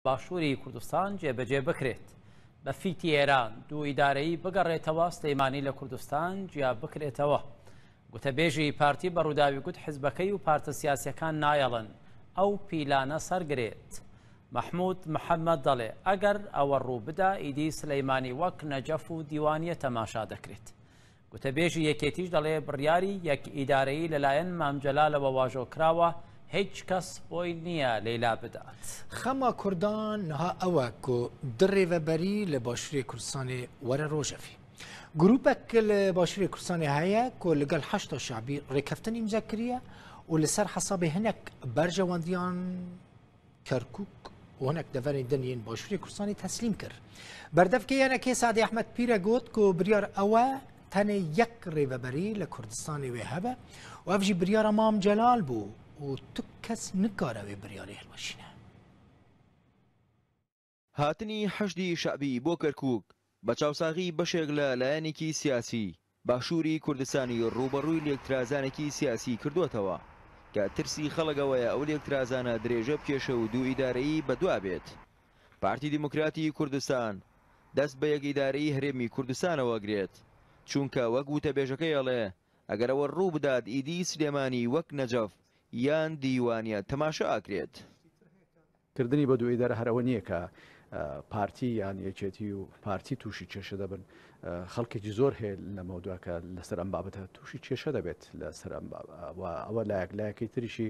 باشوری کوردستان جێبەجێ بکرێت بە فیتی ئێران دوو ئیدارەی بگەڕێتەوە سلەیمانی لە کوردستان جیا بکرێتەوە گوتەبێژی پارتی بە ڕووداوی گوت حزبەکەی و پارتە سیاسەکان نایەڵن ئەو پیلانە سەرگرێت مححمود محەممەد دەڵێ ئەگەر ئەوە ڕوو بدا ئیدی سلەیمانی وەک نەجەف و دیوانیە تەماشا دەکرێت گوتەبێژی یەکێتیش دەڵێ بڕیاری یەک ئیدارەیی لەلایەن مام جەلالەوە واژۆکراوە، هیچ کەس بۆی نییە لێی لابدات. خەما کوردان نها ئەوە ک دە رێڤەبەری لە باشوورێ کوردستانێ وەرە رۆژەڤی. گرووپەک ک لە باشوورێ کوردستانێ هەیە ک لەگەڵ حەشدا شەعبی رێککەفتن ئیمزا کریە و لە سەر حەسابێ هەنێک بەرژەوەندییان کەرکوک وەنەک دەڤەرێن دنیین باشووری کوردستانی تەسلیم کرد بەردەفکە یانەکەی سادی ئەحمد پیرە گوت و بریار ئەوە تەنێ یەک ڕێبەبەری لە کوردستانی وێ هەبە و ئەفژی بریارە مام جەلال بوو و تو کەس نکارەوەێ بریاری هەلوەشینە هاتنی حەشدی شەعبی بۆ کەرکووک بە چاوساغی بەشێک لە لایەنێکی سیاسی باشووری کوردستانی ڕووبەڕووی لێکترازانێکی سیاسی کردووەتەوە کە ترسی خەڵک ئەوەیە ئەو لێکترازانە درێژە بکێشێ و دوو ئیدارەیی بە دوا بێت. پارتی دیموکراتی کوردستان دەست بە یەک ئیدارەیی هەرێمی کوردستانەوە گرێت، چونکە وەک وتەبێژەکەی ئەڵێ ئەگەر ئەوە ڕوو بدات ئیدی سلێمانی وەک نەجەف یان دیوانیە تەماشا ئەکرێت. کردنی بە دوێی دەر هەر ئەوە نییە کە پارتی یان یەکێتی و پارتی تووشی کێشە دەبن خەڵکێکی زۆر هەیە لەمەوە دواکە لەسەر ئەم بابەتە تووشی کێشە دەبێت لەسەر ئەم ئەوە لایەک لایەکەی تریشی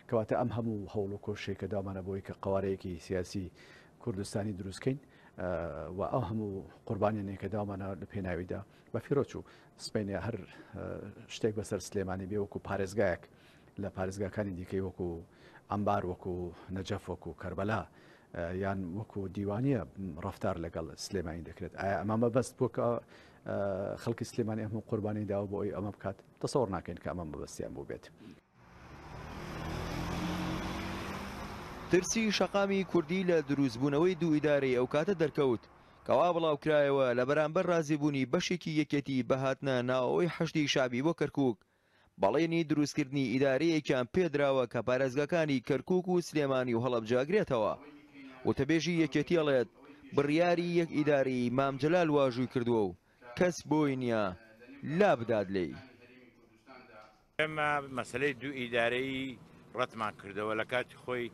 کەواتە ئەم هەموو هەوڵ و کۆشەی کە دامانە بۆی کە قوارەیەکی سیاسی کوردستانی دروستکەین و ئەو هەموو قوربانیانێکە داوامانە لە پێناویدا بە فیرۆچوو سپینێ هەر شتێک بەسەر سلێمانی بێوەکو پارێزگایەک لە پارێزگاکانی دیکەی وەکو عەمبار وەکو نەجەف وەکو کەربەلا یان وەکو دیوانە ڕفتار لەگەڵ سلێمانی دەکرێت ئایا ئەمە مەبەست بۆ کە خەڵکی سلێمانی ئەم قوربانی داوە بۆ ئەوی ئەمە بکات تەسەوەڕ ناکەین کە ئەمە مەبەستیان بوو بێت. ترسی شەقامی کوردی لە دروستبوونەوەی دوو ئیدارەی ئەو کاتە دەرکەوت کەوا بڵاوکرایەوە لە بەرامبەر رازیبوونی بەشێکی یەکێتی بە هاتنە ناوەوەی حەشدی شەعبی بۆ کەرکوک بەڵێنی دروستکردنی ئیدارەیەکیان پێدراوە کە پارێزگاکانی کەرکوک و سلێمانی و هەڵەبجە ئەگرێتەوە. وتەبێژی یەکێتی ئەڵێت، بڕیاری یەک ئیدارەیی مام جەلال واژووی کردووە و کەس بۆی نییە لابدات لێی. ئێمە مەسەلەی دوو ئیدارەیی ڕەتمان کردەوە لە کاتی خۆی،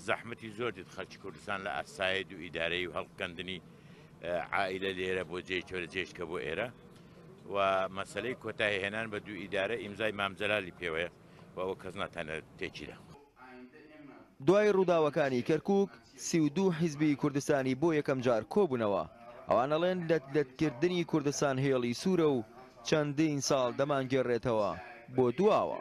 زەحمەتی زۆر دێت خەلکی کوردستان لە ئاسایێ دوو ئیدارەیی و هەلقکەندنی عائیلە لێرە بۆ جێ چۆرە جێ شکە بۆ ئێرە و مەسەلەی کۆتایی هێنان بە دوو ئیدارە ئیمزای مام جەلالی پێوەیە و ئەوە کەس ناتانێ تێکیدا. دوای ڕووداوەکانی کەرکوک سی و دوو حیزبی کوردستانی بۆ یەکەم جار کۆبوونەوە، ئەوان ئەڵێن لەت لەت کردنی کوردستان هێڵی سوورە و چەندین ساڵ دەمانگێڕێتەوە بۆ دواوە.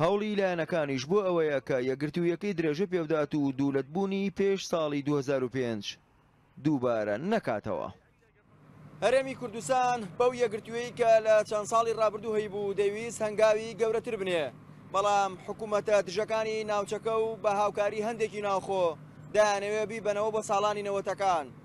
هەوڵی لایەنەکانیش بۆ ئەوەیە کە یەکگرتوویەکەی درێژە پێبدات و دوولەتبوونی پێش ساڵی دوو هەزار و پێنج دووبارە نەکاتەوە. هەرێمی کوردستان بەو یەکگرتوویەی کە لە چەند ساڵی ڕابردوو هەیبوو دەیویست هەنگاوی گەورەتر بنێ، بەڵام حکوومەتە دژەکانی ناوچەکە و بە هاوکاری هەندێکی ناوخۆ دەیانەوێ بیبەنەوە بە ساڵانی نەوەتەکان.